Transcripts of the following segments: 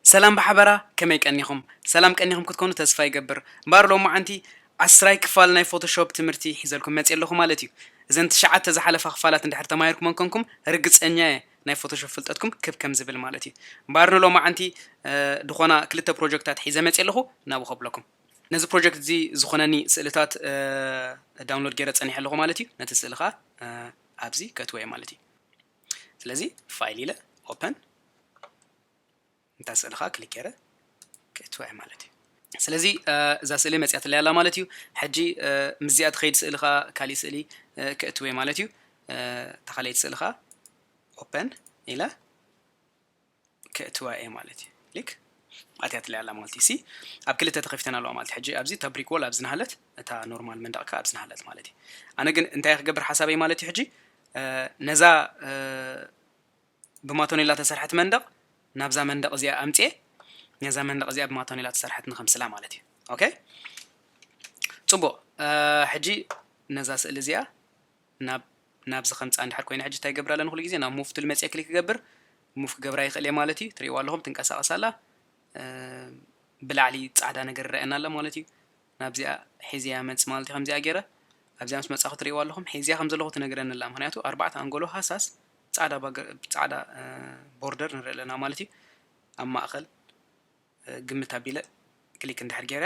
ሰላም ብሓበራ ከመይ ቀኒኹም ሰላም ቀኒኹም ክትኮኑ ተስፋ ይገብር እምበኣር ሎማዓንቲ ዓስራይ ክፋል ናይ ፎቶሾፕ ትምህርቲ ሒዘልኩም መጽየ ኣለኹ ማለት እዩ እዘን ትሽዓተ ዝሓለፋ ክፋላት እንድሕር ተማሂርኩመን ኮንኩም ርግጸኛ እየ ናይ ፎቶሾፕ ፍልጠትኩም ክብ ከም ዝብል ማለት እዩ እምበኣር ንሎማዓንቲ ድኾና ክልተ ፕሮጀክታት ሒዘ መጽየ ኣለኹ ናብኡ ከብለኩም ነዚ ፕሮጀክት እዚ ዝኾነኒ ስእልታት ዳውንሎድ ገይረ ጸኒሐ ኣለኹ ማለት እዩ ነቲ ስእሊ ከኣ ኣብዚ ከእትዎ እየ ማለት እዩ ስለዚ ፋይል ኢለ ኦፐን እንታ ስእሊ ከኣ ክሊክ ገይረ ክእትዎ እየ ማለት እዩ ስለዚ እዛ ስእሊ መፅያትለይ ኣላ ማለት እዩ ሕጂ ምስዚኣ ትኸይድ ስእሊ ከዓ ካሊእ ስእሊ ክእትወ ማለት እዩ ተኻለይቲ ስእሊ ከዓ ኦፐን ኢለ ከእትዋ እየ ማለት እዩ ሊክ ኣትያትለይ ኣላ ማለት እዩ ሲ ኣብ ክልተ ተኸፊተን ኣለዋ ማለት ሕጂ ኣብዚ እታ ብሪክ ዎል ኣብዚ ናሃለት እታ ኖርማል መንደቕ ከ ኣብዚ ናሃለት ማለት እዩ ኣነ ግን እንታይ ክገብር ሓሳበይ ማለት እዩ ሕጂ ነዛ ብማቶኔላ ተሰርሐት መንደቕ ናብዛ መንደቕ እዚኣ ኣምፅኤ ነዛ መንደቕ እዚኣ ብማቶኔላ ተሰርሐት ንኸምስላ ማለት እዩ ኦኬ ፅቡቕ ሕጂ ነዛ ስእሊ እዚኣ ናብ ናብዚ ከምጽኣ እንድሕር ኮይነ ሕጂ እንታይ ይገብር ኣለኒ ኩሉ ግዜ ናብ ሙቭ ቱል መጽየ ክሊክ ክገብር ሙቭ ክገብራ ይክእል እየ ማለት እዩ ትሪእዋ ኣለኹም ትንቀሳቀስ ኣላ ብላዕሊ ጻዕዳ ነገር ይረኣየና ኣሎ ማለት እዩ ናብዚኣ ሒዝያ መጽ ማለት እዩ ከምዚኣ ገይረ ኣብዚኣ ምስ መጻኹ ትሪእዋ ኣለኹም ሒዝያ ከም ዘለኹ ትነግረኒ ኣላ ምክንያቱ ኣርባዕተ ኣንጎሎ ሃሳስ ጻዕዳ ጻዕዳ ቦርደር ንርኢ ኣለና ማለት እዩ ኣብ ማእከል ግምት ኣቢለ ክሊክ እንድሕር ጌረ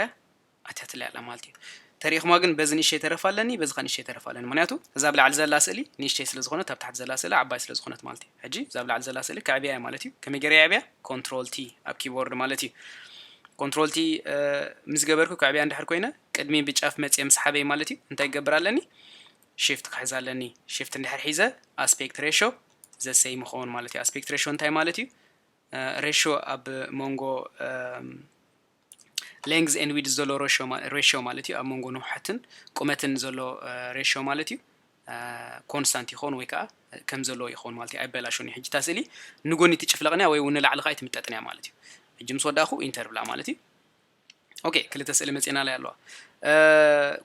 ኣትያትለይ ኣላ ማለት እዩ ተሪኢኹማ ግን በዚ ንእሽተይ ተረፍ ኣለኒ በዚ ከ ንእሽተይ ተረፍ ኣለኒ ምክንያቱ እዛ ብ ላዕሊ ዘላ ስእሊ ንእሽተይ ስለ ዝኾነት ኣብ ታሕቲ ዘላ ስእሊ ዓባይ ስለ ዝኾነት ማለት እዩ ሕጂ እዛ ብ ላዕሊ ዘላ ስእሊ ከዕብያ እየ ማለት እዩ ከመይ ገይረ የዕብያ ኮንትሮል ቲ ኣብ ኪቦርድ ማለት እዩ ኮንትሮል ቲ ምስ ገበርኩ ከዕብያ እንድሕር ኮይነ ቅድሚ ብጫፍ መጽየ ምስ ሓበይ ማለት እዩ እንታይ ይገብር ኣለኒ ሽፍት ክሕዝ ኣለኒ ሽፍት እንድሕር ሒዘ ኣስፔክት ሬሾ ዘሰይም ይኸውን ማለት እዩ ኣስፔክት ሬሾ እንታይ ማለት እዩ ሬሾ ኣብ መንጎ ሌንግዝ ኤን ዊድዝ ዘሎ ሬሾ ማለት እዩ ኣብ መንጎ ንውሓትን ቁመትን ዘሎ ሬሾ ማለት እዩ ኮንስታንት ይኸውን ወይ ከዓ ከም ዘለዎ ይኸውን ማለት እዩ ኣይበላሾን እዩ ሕጂታ ስእሊ ንጎኒ ትጭፍለቕንያ ወይ እውን ንላዕሊ ከዓ ኣይትምጠጥንያ ማለት እዩ ሕጂ ምስ ወዳእኹ ኢንተር ብላ ማለት እዩ ኦኬ ክልተ ስእሊ መፅና ላይ ኣለዋ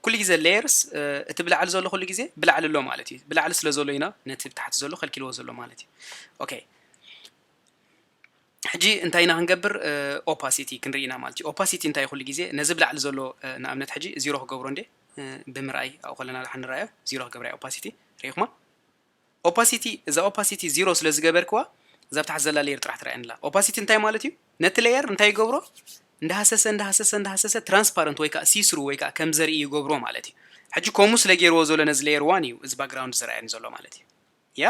ኩሉ ግዜ ሌየርስ እቲ ብላዕሊ ዘሎ ኩሉ ግዜ ብላዕሊ ኣሎ ማለት እዩ ብላዕሊ ስለ ዘሎ ኢና ነቲ ብታሕቲ ዘሎ ከልኪልዎ ዘሎ ማለት እዩ ኦኬ ሕጂ እንታይ ኢና ክንገብር ኦፓሲቲ ክንርኢ ኢና ማለት እዩ ኦፓሲቲ እንታይ ኩሉ ግዜ ነዚ ብላዕሊ ዘሎ ንኣብነት ሕጂ ዚሮ ክገብሮ እንዴ ብምርኣይ ኣብኡ ከለና ድሓ ንረኣዮ ዚሮ ክገብራ ኦፓሲቲ ርኢኹማ ኦፓሲቲ እዛ ኦፓሲቲ ዚሮ ስለ ዝገበርክዋ እዛ ኣብ ታሕቲ ዘላ ሌየር ጥራሕ ትረኣየኒ ኣላ። ኦፓሲቲ እንታይ ማለት እዩ? ነቲ ሌየር እንታይ ይገብሮ? እንዳሃሰሰ እንዳሃሰሰ እንዳሃሰሰ ትራንስፓረንት ወይ ከዓ ሲስሩ ወይ ከዓ ከም ዘርኢ ይገብሮ ማለት እዩ። ሕጂ ከምኡ ስለ ገይርዎ ዘሎ ነዚ ሌየር ዋን እዩ እዚ ባክግራውንድ ዝረኣየኒ ዘሎ ማለት እዩ። ያ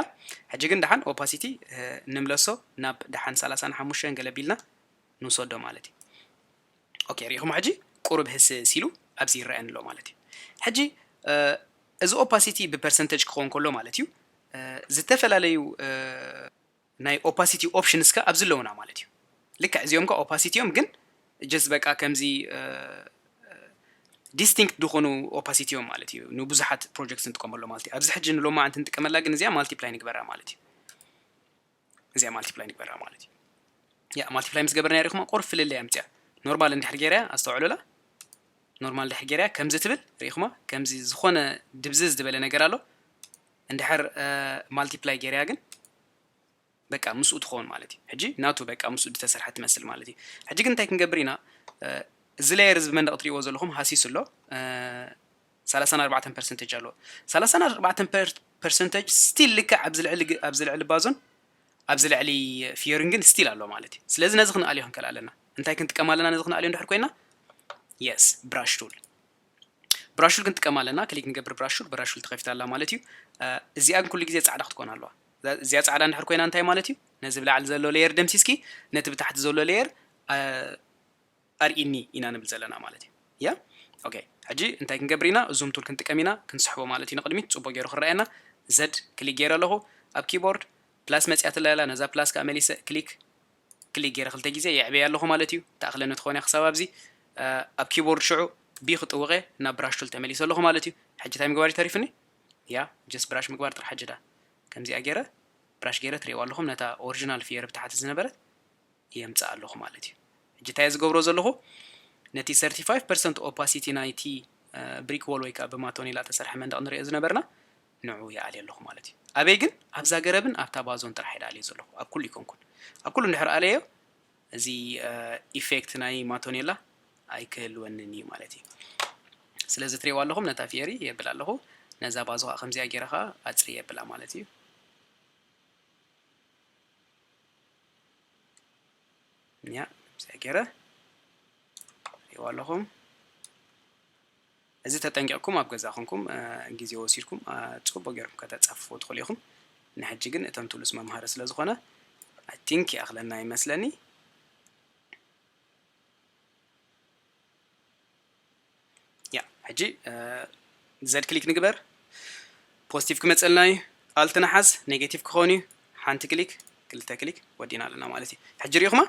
ሕጂ ግን ደሓን ኦፓሲቲ ንምለሶ ናብ ደሓን ሰላሳን ሓሙሽተን ገለ ቢልና ንውሰዶ ማለት እዩ። ኦኬ ሪኢኹሞ ሕጂ ቁሩብ ህስስ ኢሉ ኣብዚ ይረኣየኒ ኣሎ ማለት እዩ ሕጂ እዚ ኦፓሲቲ ብፐርሰንተጅ ክኸውን ከሎ ማለት እዩ ዝተፈላለዩ ናይ ኦፓሲቲ ኦፕሽንስ ከ ኣብዚ ኣለውና ማለት እዩ ልክዕ እዚኦም ከ ኦፓሲቲ እዮም ግን ጀስት በቃ ከምዚ ዲስቲንክት ዝኾኑ ኦፓሲቲ እዮም ማለት እዩ ንብዙሓት ፕሮጀክት ንጥቀመሎ ማለት እዩ ኣብዚ ሕጂ ንሎማዓንቲ ንጥቀመላ ግን እዚኣ ማልቲፕላይ ንግበራ ማለት እዩ እዚኣ ማልቲፕላይ ንግበራ ማለት እዩ ያ ማልቲፕላይ ምስ ገበርና ሪኹማ ቁር ፍልለይ ኣምፅያ ኖርማል እንድሕር ገይረያ ኣስተውዕሉላ ኖርማል እንድሕር ገይረያ ከምዚ ትብል ሪኢኹማ ከምዚ ዝኾነ ድብዝዝ ዝበለ ነገር ኣሎ እንድሕር ማልቲፕላይ ገይረያ ግን በቃ ምስኡ ትኸውን ማለት እዩ ሕጂ ናቱ በቃ ምስኡ ዝተሰርሐ ትመስል ማለት እዩ ሕጂ ግን እንታይ ክንገብር ኢና እዚ ሌየር እዚ ብመንደቕ ትሪእዎ ዘለኹም ሃሲሱ ኣሎ ሰላሳን ኣርባዕተን ፐርሰንተጅ ኣለዎ። ሰላሳን ኣርባዕተን ፐርሰንተጅ ስቲል ልክዕ ኣብዚ ልዕሊ ግ- ኣብዚ ልዕሊ ባዞን ኣብዚ ልዕሊ ፊዮሪንግን ስቲል ኣሎ ማለት እዩ። ስለዚ ነዚ ክንኣልዮ ክንክእል ኣለና። እንታይ ክንጥቀም ኣለና ነዚ ክንኣልዮ እንድሕር ኮይና? የስ ብራሽ ቱል ብራሽ ቱል ክንጥቀም ኣለና። ክሊክ ንገብር ብራሽ ቱል ብራሽ ቱል ተኸፊታ ኣላ ማለት እዩ። አ፣ እዚኣ ግን ኩሉ ግዜ ጻዕዳ ክትኮን ኣለዋ። እዛ- እዚኣ ጻዕዳ እንድሕር ኮይና እንታይ ማለት እዩ? ነዚ ብላዕሊ ዘሎ ሌየር ደምሲስኪ ነቲ ብታሕቲ ዘሎ ሌየር ኣርኢኒ ኢና ንብል ዘለና ማለት እዩ yeah ok ሕጂ እንታይ ክንገብር ኢና ዙም ቱል ክንጥቀም ኢና ክንስሕቦ ማለት እዩ ንቅድሚት ጽቡቅ ጌሩ ክረኣየና Z ክሊክ ጌረ ኣለኹ ኣብ ኪቦርድ ፕላስ መጽያትለይ ኣላ ነዛ ፕላስ ከኣ መሊሰ ክሊክ ክሊክ ጌረ ክልተ ግዜ የዕብየያ ኣለኹ ማለት እዩ ትኣኽለኒ ትኾን እያ ክሳብ ኣብዚ ኣብ ኪቦርድ ሽዑ ቢ ክጥውቀ ናብ ብራሽ ቱል ተመሊሰ ኣለኹ ማለት እዩ ሕጂ እንታይ ምግባር እዩ ተሪፍኒ ያ ጀስ ብራሽ ምግባር ጥራሕ ሕጂ ዳ ከምዚኣ ጌረ ብራሽ ጌረ ትሪእዋ ኣለኹም ነታ ኦሪጂናል ፍየር ብታሕቲ ዝነበረት የምጽእ ኣለኹ ማለት እዩ። ሕጂ እንታይ እየ ዝገብሮ ዘለኹ ነቲ ሰርቲ ፋይቭ ፐርሰንት ኦፓሲቲ ናይቲ ብሪክ ዎል ወይ ከኣ ብማቶኔላ እተሰርሐ መንደቕ ንርእዮ ዝነበርና ንዑ ይኣልዮ ኣለኹ ማለት እዩ። ኣበይ ግን? ኣብዛ ገረብን ኣብታ ባዞን ጥራሕ እየ ድኣልዮ ዘለኹ፣ ኣብ ኩሉ ኣይኮንኩን። ኣብ ኩሉ እንድሕር ኣለዮ እዚ ኢፌክት ናይ ማቶኔላ ኣይክህልወንን እዩ ማለት እዩ። ስለዚ ትርእይዋ ኣለኹም ነታ ፊየሪ የብል ኣለኹ፣ ነዛ ባዞ ከኣ ከምዚኣ ጌረ ከኣ ኣጽሪ የብላ ማለት እዩ። እኛ ምስይ ገይረ ሪዋ ኣለኹም እዚ ተጠንቂቕኩም ኣብ ገዛ ኮንኩም ግዜ ወሲድኩም ፅቡቅ ገይርኩም ከተፃፍፉ ትኽእሉ ኢኹም ንሕጂ ግን እቶም ትብሉስ መምሃሪ ስለ ዝኾነ ኣይ ቲንክ ይኣኽለና ይመስለኒ ያ ሕጂ ዘድ ክሊክ ንግበር ፖዚቲቭ ክመፀልና እዩ ኣልት ንሓዝ ኔጌቲቭ ክኾን እዩ ሓንቲ ክሊክ ክልተ ክሊክ ወዲና ኣለና ማለት እዩ ሕጂ ሪኢኹማ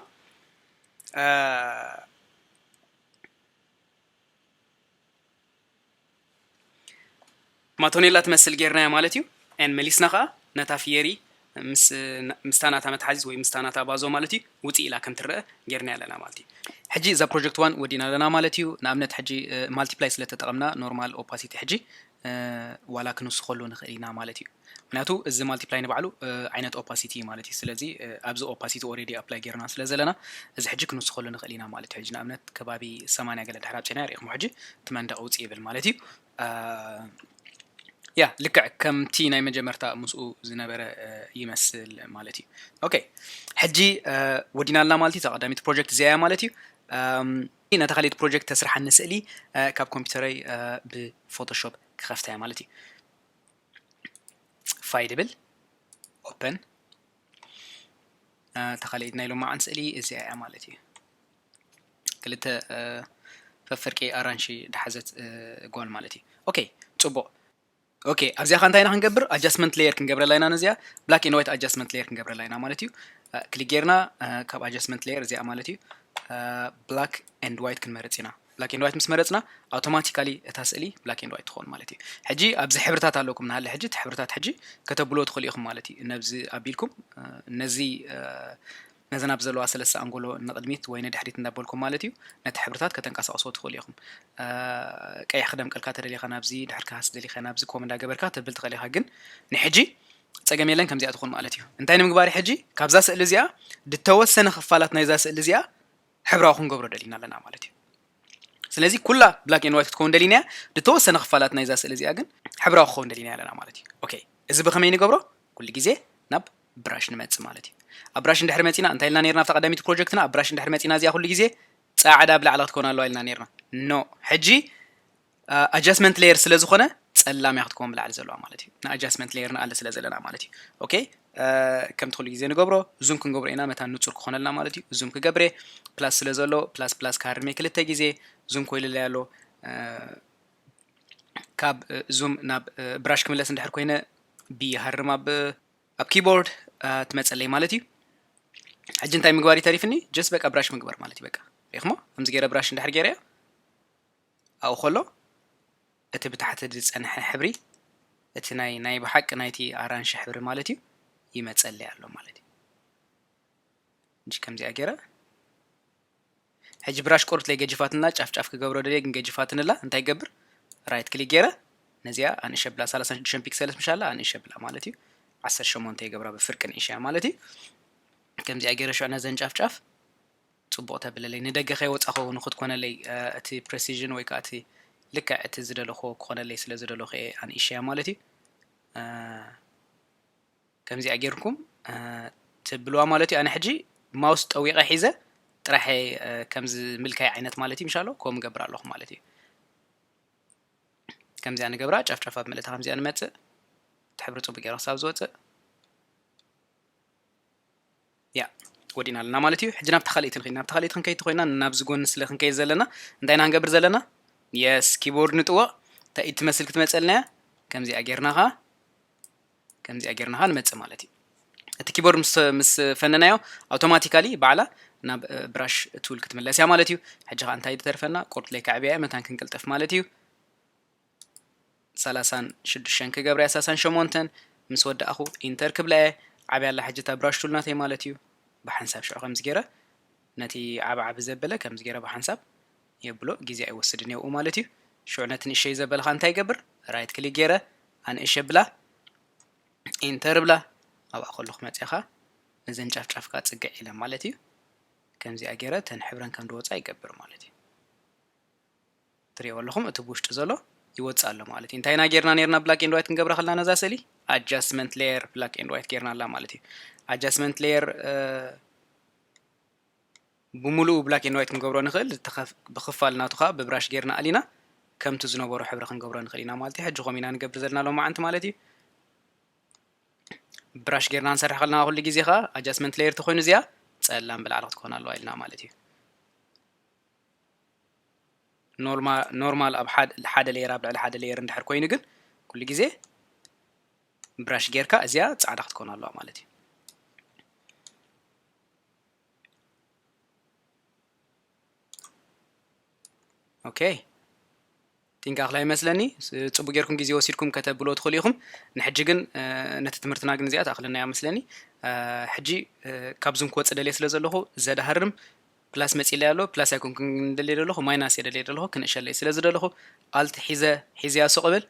ማቶኔላ ትመስል ጌርናያ ማለት እዩ and መሊስና ከኣ ነታ ፍየሪ ምስ ምስታ ናታ መትሓዚት ወይ ምስታ ናታ ባዞ ማለት እዩ ውጽእ ኢላ ከም ትረኣ ጌርናያ ኣለና ማለት እዩ። ሕጂ እዛ ፕሮጀክት ዋን ወዲእና ኣለና ማለት እዩ። ንኣብነት ሕጂ ማልቲፕላይ ስለ ተጠቐምና ኖርማል ኦፓሲቲ ሕጂ ዋላ ክንውስኸሉ ንኽእል ኢና ማለት እዩ። ምክንያቱ እዚ ማልቲፕላይ ንባዕሉ ዓይነት ኦፓሲቲ እዩ ማለት እዩ ስለዚ ኣብዚ ኦፓሲቲ ኦሬዲ ኣፕላይ ጌርና ስለ ዘለና እዚ ሕጂ ክንውስኸሉ ንኽእል ኢና ማለት እዩ ሕጂ ንኣብነት ከባቢ ሰማንያ ገለ ድሕር ኣብፀና ርኢኹም ሕጂ እቲ መንደቕ ውፅ ይብል ማለት እዩ ያ ልክዕ ከምቲ ናይ መጀመርታ ምስኡ ዝነበረ ይመስል ማለት እዩ ኦኬ ሕጂ ወዲና ኣላ ማለት እዩ እዛ ቀዳሚት ፕሮጀክት እዚኣ ማለት እዩ ነታ ካልኢት ፕሮጀክት ተስርሓኒ ስእሊ ካብ ኮምፒውተረይ ብፎቶሾፕ ክኸፍታ እያ ማለት እዩ ፋይል ይብል ኦፕን ተኻሊኢት ናይ ሎማዓን ስእሊ እዚኣ እያ ማለት እዩ ክልተ ፈፍርቂ ኣራንሺ ድሓዘት ጓል ማለት እዩ ኦኬ ፅቡቕ ኦኬ ኣብዚኣ ከ እንታይ ኢና ክንገብር ኣጃስትመንት ሌየር ክንገብረላ ኢና ነዚኣ ብላክ ኤንድ ዋይት ኣጃስትመንት ሌየር ክንገብረላ ኢና ማለት እዩ ክሊክ ጌርና ካብ ኣጃስትመንት ሌየር እዚኣ ማለት እዩ ብላክ ኤንድ ዋይት ክንመርፅ ኢና ብላክ ኤንድ ዋይት ምስ መረጽና ኣውቶማቲካሊ እታ ስእሊ ብላክ ኤንድ ዋይት ትኸውን ማለት እዩ። ሕጂ ኣብዚ ሕብርታት ኣለኩም ንሃለ ሕጂ እቲ ሕብርታት ሕጂ ከተብልዎ ትኽእሉ ኢኹም ማለት እዩ። ነብዚ ኣቢልኩም ነዚ ነዘን ኣብ ዘለዋ ሰለስተ ኣንጎሎ ንቕድሚት ወይ ንድሕሪት እንዳበልኩም ማለት እዩ ነቲ ሕብርታት ከተንቀሳቕስዎ ትኽእሉ ኢኹም። ቀይሕ ክደምቀልካ ተደሊኻ ናብዚ ድሕር ክሃስ ደሊኻ ናብዚ ኮም እንዳገበርካ ተብል ትኽእል ኢኻ ግን ንሕጂ ጸገም የለን ከምዚኣ ትኹን ማለት እዩ። እንታይ ንምግባር ሕጂ ካብዛ ስእሊ እዚኣ ድተወሰነ ክፋላት ናይዛ ስእሊ እዚኣ ሕብራዊ ክንገብሮ ደሊና ኣለና ማለት እዩ። ስለዚ ኩላ ብላክ ኤንድ ዋይት ክትከውን ደሊና እያ። ዝተወሰነ ክፋላት ናይዛ ስእሊ እዚኣ ግን ሕብራዊ ክኸውን ደሊና ኣለና ማለት እዩ። ኦኬ እዚ ብኸመይ ንገብሮ? ኩሉ ግዜ ናብ ብራሽ ንመጽእ ማለት እዩ። ኣብ ብራሽ እንድሕሪ መጺና እንታይ ኢልና ነርና ኣብታ ቀዳሚት ፕሮጀክትና ኣብ ብራሽ እንድሕሪ መጺና እዚኣ ኩሉ ግዜ ጻዕዳ ብላዕሊ ክትከውን ኣለዋ ኢልና ነርና። ኖ ሕጂ ኣጃስመንት ለየር ስለ ዝኾነ ጸላም እያ ክትከውን ብላዕሊ ዘለዋ ማለት እዩ ንኣጃስመንት ለየር ንኣለ ስለ ዘለና ማለት እዩ ኦኬ ከምቲ ኩሉ ግዜ ንገብሮ ዙም ክንገብሮ ኢና መታን ንጹር ክኾነልና ማለት እዩ ዙም ክገብሬ ፕላስ ስለ ዘሎ ፕላስ ፕላስ ካርሜ ክልተ ግዜ ዙም ኮይልለ ኣሎ ካብ ዙም ናብ ብራሽ ክምለስ እንድሕር ኮይነ ብይሃርም ኣብ ኣብ ኪቦርድ ትመፀለይ ማለት እዩ ሕጂ እንታይ ምግባር ይተሪፍኒ ጀስ በቃ ብራሽ ምግባር ማለት እዩ በቃ ሪኽሞ ከምዚ ገይረ ብራሽ እንድሕር ገይረ እያ ኣብኡ ኸሎ፣ እቲ ብታሕቲ ዝጸንሐ ሕብሪ፣ እቲ ናይ ናይ ብሓቂ ናይቲ ኣራንሺ ሕብሪ ማለት እዩ፣ ይመጸለይ ኣሎ ማለት እዩ። ሕጂ ከምዚኣ ገይረ ሕጂ ብራሽ ቆርብትለይ ገጅፋትንላ ጫፍ ጫፍ ክገብሮ ደልየ ግን ገጅፋትንላ እንታይ ገብር ራይት ክሊክ ገይረ ነዚኣ ኣንእሸ ብላ ሰላሳን ሽዱሽተን ፒክሰልስ ምሽ ኣላ ኣንእሸ ብላ ማለት እዩ ዓሰርተ ሸሞንተ ይገብራ ብፍርቂ ንእሸያ ማለት እዩ ከምዚኣ ገይረ ሽዑ ነዘን ጫፍ ጫፍ ጽቡቕ ተብለለይ ንደገ ከይወጻኹ ንኽትኮነለይ እቲ ፕረሲዥን ወይ ከኣ እቲ ልክዕ እቲ ዝደለኹዎ ክኾነለይ ስለ ዝደለኹ እየ ኣንኢሸያ ማለት እዩ ከምዚኣ ጌርኩም ትብልዋ ማለት እዩ ኣነ ሕጂ ማውስ ጠዊቐ ሒዘ ጥራሕ ከምዚ ምልካይ ዓይነት ማለት እዩ ምሻሎ ከምኡ ገብር ኣለኹ ማለት እዩ ከምዚኣ ንገብራ ጨፍጨፍ ኣብ መለታ ከምዚኣ ንመፅእ ትሕብሪ ፅቡቅ ገይረ ክሳብ ዝወፅእ ያእ ወዲእና ኣለና ማለት እዩ። ሕጂ ናብታ ካልኣይቲ ንኸይድ ናብታ ካልኣይቲ ክንከይድ ተኾይና ናብዚ ጎኒ ስለ ክንከይድ ዘለና እንታይ ኢና ክንገብር ዘለና የስ ኪቦርድ ንጥወቕ እንታይ ኢድ ትመስል ክትመጸልና እያ ከምዚኣ ጌርና ኸዓ ከምዚኣ ጌርና ኸዓ ንመጽእ ማለት እዩ። እቲ ኪቦርድ ምስ ምስ ፈነናዮ ኣውቶማቲካሊ ባዕላ ናብ ብራሽ ቱል ክትምለስ እያ ማለት እዩ። ሕጂ ኸዓ እንታይ ዝተርፈና ቁርጥ ለይ ከዕብያ እየ መታን ክንቅልጥፍ ማለት እዩ። ሰላሳን ሽዱሽተን ክገብርያ ሳሳን ሸሞንተን ምስ ወዳእኹ ኢንተር ክብላየ ዓብያ ኣላ ሕጂ እታ ብራሽ ቱል ናተይ ማለት እዩ ብሓንሳብ ሽዑ ከምዚ ገይረ ነቲ ዓብ ዓብ ዘበለ ከምዚ ገይረ ብሓንሳብ የብሎ ግዜ ኣይወስድን የብኡ ማለት እዩ ሽዑ ነቲ ንእሸይ ዘበለ ኸኣ እንታይ ይገብር ራይት ክሊክ ገይረ ኣንእሽ የብላ ኢንተር ብላ ኣብኣ ከለኹ መፅያ ኸኣ ነዘን ጫፍ ጫፍ ከኣ ፅግዕ ኢለን ማለት እዩ ከምዚኣ ገይረ ተን ሕብረን ከም ድወፃ ይገብር ማለት እዩ ትሪእዎ ኣለኹም እቲ ብውሽጢ ዘሎ ይወጽእ ኣሎ ማለት እዩ እንታይ ኢና ጌርና ኔርና ብላክ ኤንድ ዋይት ክንገብራ ከለና ነዛ ስእሊ ኣጃስትመንት ሌየር ብላክ ኤንድ ዋይት ጌርና ኣላ ማለት እዩ ኣጃስትመንት ሌየር ብምሉኡ ብላክ ኤንድ ዋይት ክንገብሮ ንኽእል ብክፋል ናቱ ከዓ ብብራሽ ጌርና ኣሊና ከምቲ ዝነበሮ ሕብሪ ክንገብሮ ንኽእል ኢና ማለት እዩ ሕጂ ከምኡ ኢና ንገብር ዘለና ሎም መዓንቲ ማለት እዩ ብራሽ ጌርና ንሰርሕ ከለና ኩሉ ግዜ ከዓ ኣጃስትመንት ሌየር ተኮይኑ እዚኣ ጸላም ብላዕሊ ክትኮን ኣለዋ ኢልና ማለት እዩ ኖርማል ኣብ ሓደ ሌየር ኣብ ልዕሊ ሓደ ሌየር እንድሕር ኮይኑ ግን ኩሉ ግዜ ብራሽ ጌርካ እዚኣ ፃዕዳ ክትኮን ኣለዋ ማለት እዩ ኦኬ ጢንቃቅላይ ይመስለኒ ጽቡቅ ጌርኩም ግዜ ወሲድኩም ከተብልዎ ትኽእሉ ኢኹም ንሕጂ ግን ነቲ ትምህርትና ግን እዚኣ ትኣኽለናያ መስለኒ ሕጂ ካብዙም ክወጽእ ደልየ ስለ ዘለኹ ዘዳሃርም ፕላስ መጺለይ ኣሎ ፕላስ ኣይኮንኩን ደልየ ደለኹ ማይናስ እየ ደልየ ደለኹ ክንእሸለይ ስለ ዝደለኹ ኣልት ሒዘ ሒዘያ ሱቅ እብል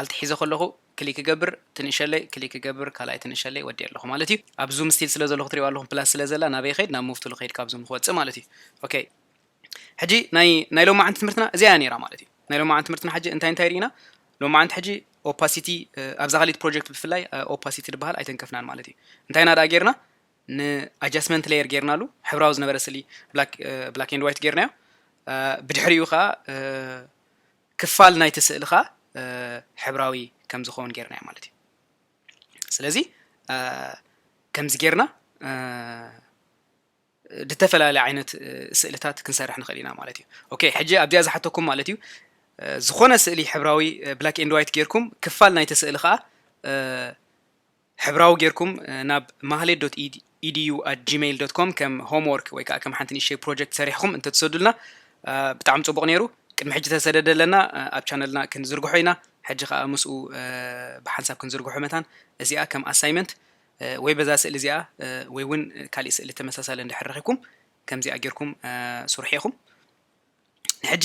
ኣልት ሒዘ ከለኹ ክሊክ ይገብር ትንእሸለይ ክሊክ ይገብር ካልኣይ ትንእሸለይ ወዲየ ኣለኹ ማለት እዩ ኣብ ዙም ስቲል ስለ ዘለኹ ትሪእዋ ኣለኹም ፕላስ ስለ ዘላ ናበይ ኸይድ ናብ ሙቭ ቱል ኸይድ ካብ ዙም ክወጽእ ማለት እዩ ኦኬ ሕጂ ናይ ናይ ሎማዓንቲ ትምህርትና እዚኣ ነይራ ማለት እዩ ናይ ሎማዓንቲ ትምህርትና ሕጂ እንታይ እንታይ ርኢና ሎማዓንቲ ሕጂ ኦፓሲቲ ኣብዛ ካሊት ፕሮጀክት ብፍላይ ኦፓሲቲ ዝበሃል ኣይተንከፍናን ማለት እዩ እንታይ ናዳ ጌርና ንኣጃስትመንት ሌየር ጌርናሉ ሕብራዊ ዝነበረ ስሊ ብላክ ኤንድ ዋይት ጌርናዮ ብድሕሪኡ ከዓ ክፋል ናይቲ ስእሊ ከዓ ሕብራዊ ከም ዝኸውን ጌርናዮ ማለት እዩ ስለዚ ከምዚ ጌርና ዝተፈላለየ ዓይነት ስእልታት ክንሰርሕ ንኽእል ኢና ማለት እዩ ኦኬ ሕጂ ኣብዚኣ ዝሓተኩም ማለት እዩ ዝኾነ ስእሊ ሕብራዊ ብላክ ኤንድ ዋይት ጌርኩም ክፋል ናይቲ ስእሊ ከዓ ሕብራዊ ጌርኩም ናብ ማህሌት ዶት ኢድዩ ኣት ጂሜይል ዶት ኮም ከም ሆምወርክ ወይ ከዓ ከም ሓንቲ ንእሽተይ ፕሮጀክት ሰሪሕኹም እንተትሰዱልና ብጣዕሚ ፅቡቕ ነይሩ ቅድሚ ሕጂ ተሰደደ ኣለና ኣብ ቻነልና ክንዝርግሖ ኢና ሕጂ ከዓ ምስኡ ብሓንሳብ ክንዝርግሖ መታን እዚኣ ከም ኣሳይመንት ወይ በዛ ስእሊ እዚኣ ወይ እውን ካሊእ ስእሊ ተመሳሳሊ እንድሕር ረኺብኩም ከምዚኣ ጌርኩም ስርሑ ኢኹም ንሕጂ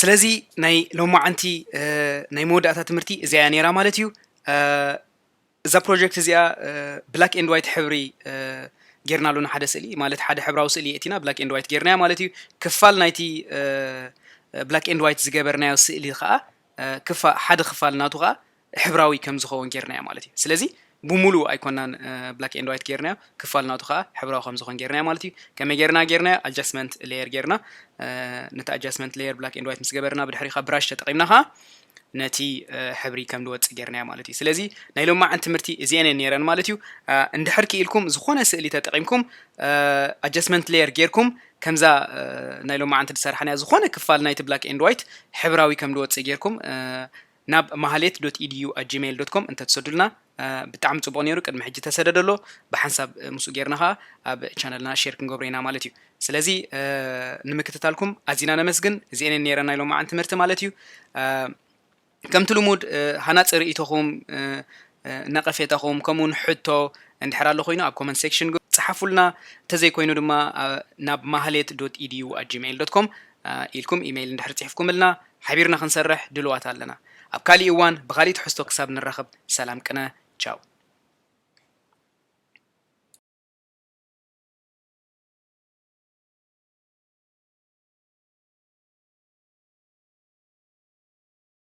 ስለዚ ናይ ሎማዓንቲ ናይ መወዳእታ ትምህርቲ እዚኣ እያ ነይራ ማለት እዩ እዛ ፕሮጀክት እዚኣ ብላክ ኤንድ ዋይት ሕብሪ ጌርና ኣሎና ሓደ ስእሊ ማለት ሓደ ሕብራዊ ስእሊ የእቲና ብላክ ኤንድ ዋይት ጌርናያ ማለት እዩ ክፋል ናይቲ ብላክ ኤንድ ዋይት ዝገበርናዮ ስእሊ ከዓ ክፋ ሓደ ክፋል ናቱ ከኣ ሕብራዊ ከም ዝኸውን ጌርናዮ ማለት እዩ። ስለዚ ብሙሉኡ ኣይኮናን ብላክ ኤንድ ዋይት ጌርናዮ፣ ክፋል ናቱ ከኣ ሕብራዊ ከም ዝኸውን ጌርናዮ ማለት እዩ። ከመይ ጌርና ጌርናዮ ኣጃስትመንት ሌየር ጌርና ነቲ ኣጃስትመንት ሌየር ብላክ ኤንድ ዋይት ምስ ገበርና ብድሕሪ ካብ ብራሽ ተጠቂምና ከኣ ነቲ ሕብሪ ከም ዝወጽእ ጌርናዮ ማለት እዩ ስለዚ ናይ ሎማዓን ትምህርቲ እዚኤን እየን ነይረን ማለት እዩ እንድሕር ክኢልኩም ዝኾነ ስእሊ ተጠቂምኩም ኣጀስትመንት ሌየር ጌርኩም ከምዛ ናይ ሎማዓንቲ ድሰራሕናያ ዝኮነ ክፋል ናይቲ ብላክ ኤንድ ዋይት ሕብራዊ ከም ድወጽእ ጌርኩም ናብ ማህሌት ዶት ኢድዩ ኣት ጂመይል ዶት ኮም እንተትሰዱልና ብጣዕሚ ጽቡቅ ኔሩ ቅድሚ ሕጂ ተሰደደ ኣሎ ብሓንሳብ ምስኡ ጌርና ከኣ ኣብ ቻነልና ሼር ክንገብሮ ኢና ማለት እዩ ስለዚ ንምክትታልኩም ኣዚና ነመስግን እዚኤን ኔረን ናይ ሎማዓንቲ ትምህርቲ ማለት እዩ ከምቲ ልሙድ ሃናጺ ርእይቶኹም፣ ነቐፌታኹም ከምኡውን ሕቶ እንድሕር ኣሎ ኮይኑ ኣብ ኮመንት ሴክሽን ጽሓፉልና፣ እንተዘይ ኮይኑ ድማ ናብ ማህሌት ዶት ኢድዩ ኣት ጂመይል ዶት ኮም ኢልኩም ኢመይል እንድሕር ጽሒፍኩምልና ሓቢርና ክንሰርሕ ድሉዋት ኣለና። ኣብ ካሊእ እዋን ብኻሊእ ትሕዝቶ ክሳብ ንራኸብ ሰላም ቅነ ቻው።